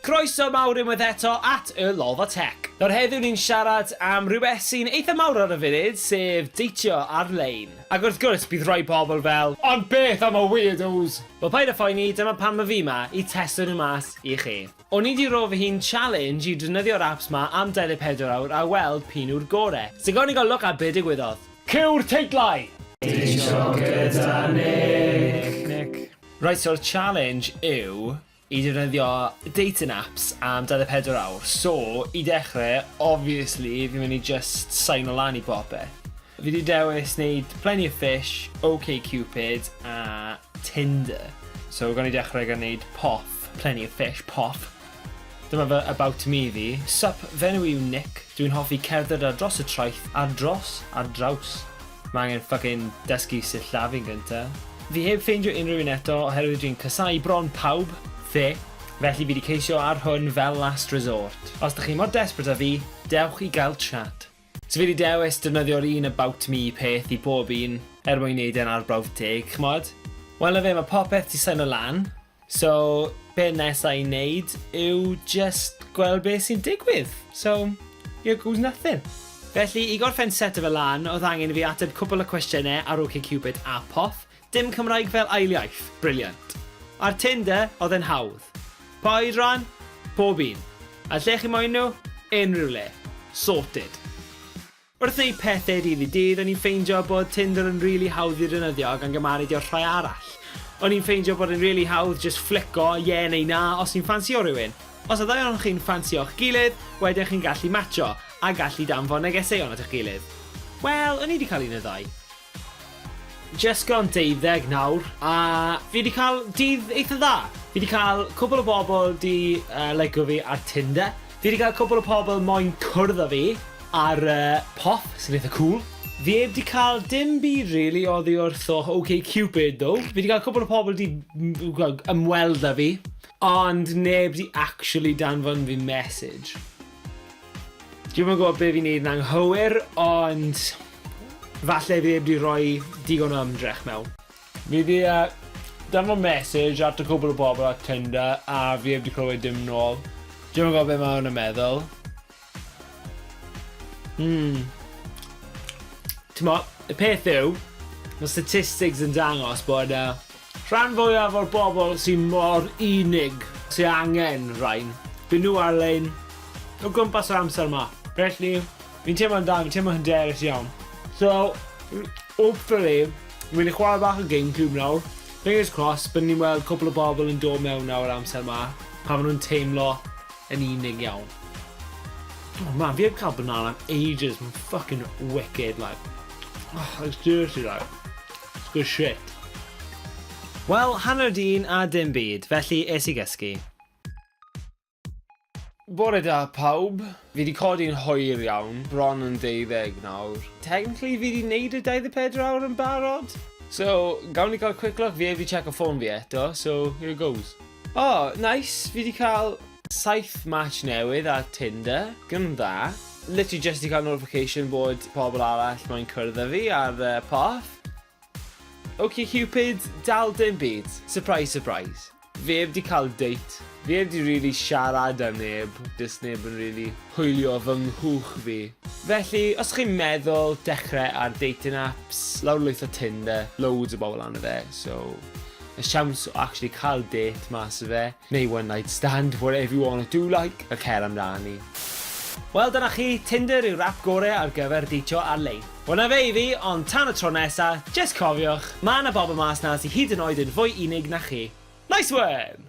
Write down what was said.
Croeso mawr unwaith eto at Y Lolfa Tech. Nawr heddiw ni'n siarad am rhywbeth sy'n eitha mawr ar y funud, sef deitio ar-lein. Ac wrth gwrs, bydd rhai pobl fel, Ond beth am y weirdos? Wel paid â phoeni, dyma pam 'y fi 'ma, i testio nhw mas. i chi. O'n i di ro fy hun challenge i drnydio'r apps ma am 24 awr a weld pun yw'r gore. So gawn ni gael look ar be digwyddodd. Cyw'r teitlau! Dwysio gyda Nick. Reit so'r challenge yw i defnyddio dating apps am 24 awr so i dechre obviously fi'n mynd i jyst saino lan i bopeth. Fi di dewis neud Plenty of Fish, OkCupid a Tinder. So gawn ni dechrau gan neud poff. Plenty of fish, poff. Dyma fy about me fi. Sup, fy enw i yw Nick, dwi'n hoffi cerdded ar dros y traeth, ar dros, ar draws. Mae angen ffycin dysgu sillafu'n gynta. Fi heb ffeindio unrhyw un eto oherwydd dwi'n casau bron pawb, fe, felly fi di ceisio ar hwn fel last resort. Os dych chi mor desperate a fi, dewch i gael chat. So fi 'di dewis defnyddio'r un about me peth i bob un er mwyn neud e'n arbrawf teg, ch'mod? Wel 'na fe, ma' popeth 'di saino lan, so be' nesa i neud yw jyst gweld be' sy'n digwydd, so here goes nothing. Felly, i gorffen seto fe lan, o'dd angen i fi ateb cwpwl o cwestiyne ar OkCupid a Poth, Dim Cymraeg fel ail iaith, brilliant. A'r tin de, oedd e'n hawdd. Pa oedran? Pob un. A lle chi moyn nhw? Unrhyw le. Sorted. Wrth wneud pethe dydd i dydd, o'n i'n ffeindio bod Tinder yn rili hawdd i ddefnyddio ac angam aredio i'r rhai arall. O'n i'n ffeindio bod e'n rili hawdd jyst fflico ie neu na os ti'n ffansio rhywun. Os y ddau ohonoch chi'n ffansio'ch gilydd, wedyn chi'n gallu matsio, a gallu danfon negeseuon at eich gilydd. Wel, o'n i 'di cael un neu ddau. Jyst gan deuddeg nawr a fi 'di cael dydd eitha dda. Fi 'di cael cwpl o bobl 'di yy licio fi ar Tinder. Fi 'di cael cwpl o pobl moyn cwrdd â fi ar yy pop sy'n eitha cŵl. Fi 'eb 'di cael dim byd rili oddi wrth o OK Cupid ddo. Fi 'di cael cwpl o pobl 'di ymweld â fi ond neb 'di actually danfon fi mesij. Dwi'm yn gwybod be fi'n neud yn anghywir, ond falle fi heb di roi digon o ymdrech mewn. Fi di danfon message at y cwpl o bobl ar Tinder a fi heb di clywed dim nôl. Dwi'm yn gwybod be ma' hwn yn meddwl. Hmm. T'mo', y peth yw, ma' statistics yn dangos bod yy Rhan fwyaf o'r bobl sy mor unig, sy angen rhain, dyn nhw ar-lein, o gwmpas yr amser 'ma. Felly, fi'n teimlo'n da, fi'n teimlo hyderus iawn. So, hopefully, fi'n mynd i chwarae bach o Gamecube nawr, fingers crossed, bydden ni'n weld cwpl o bobl yn dod mewn nawr yr amser 'ma, pan maen nhw'n teimlo yn unig iawn. Oh man, fi heb cael banana am ages, mae'n fucking wicked, like, oh, like seriously, like. Good shit. Wel, hanner dyn a dim byd, felly es i gysgu. Bore da pawb. Fi wedi codi'n hwyr iawn, bron yn deuddeg nawr. Technically fi wedi neud y 24 awr yn barod. So, gawn ni cael quick look, fi heb wedi check o ffôn fi eto, so here goes. O, nice! Fi 'di cael saith match newydd ar Tinder. Gwn dda. Literally jyst 'di cael notification bod pobl arall moyn cwrdd â fi ar y porth. OkCupid, dal dim byd. Surprise, surprise. Fi heb 'di cael date. Fi heb 'di rili siarad â neb, does neb yn rili hwylio fy nghwch fi. Felly, os chi'n meddwl dechrau ar dating apps, lawrlwytho Tinder, loads o bobl arno fe, so y siawns o actually cael dêt mas o fe, neu one night stand, whatever you wanna do like, a cer amdani. Wel dyna chi, Tinder yw'r app gore ar gyfer deitio ar-lein. Wel 'na fe i fi, ond tan y tro nesa, jyst cofiwch, ma' 'na bobl mas 'na sy hyd yn oed yn fwy unig na chi. Nice one!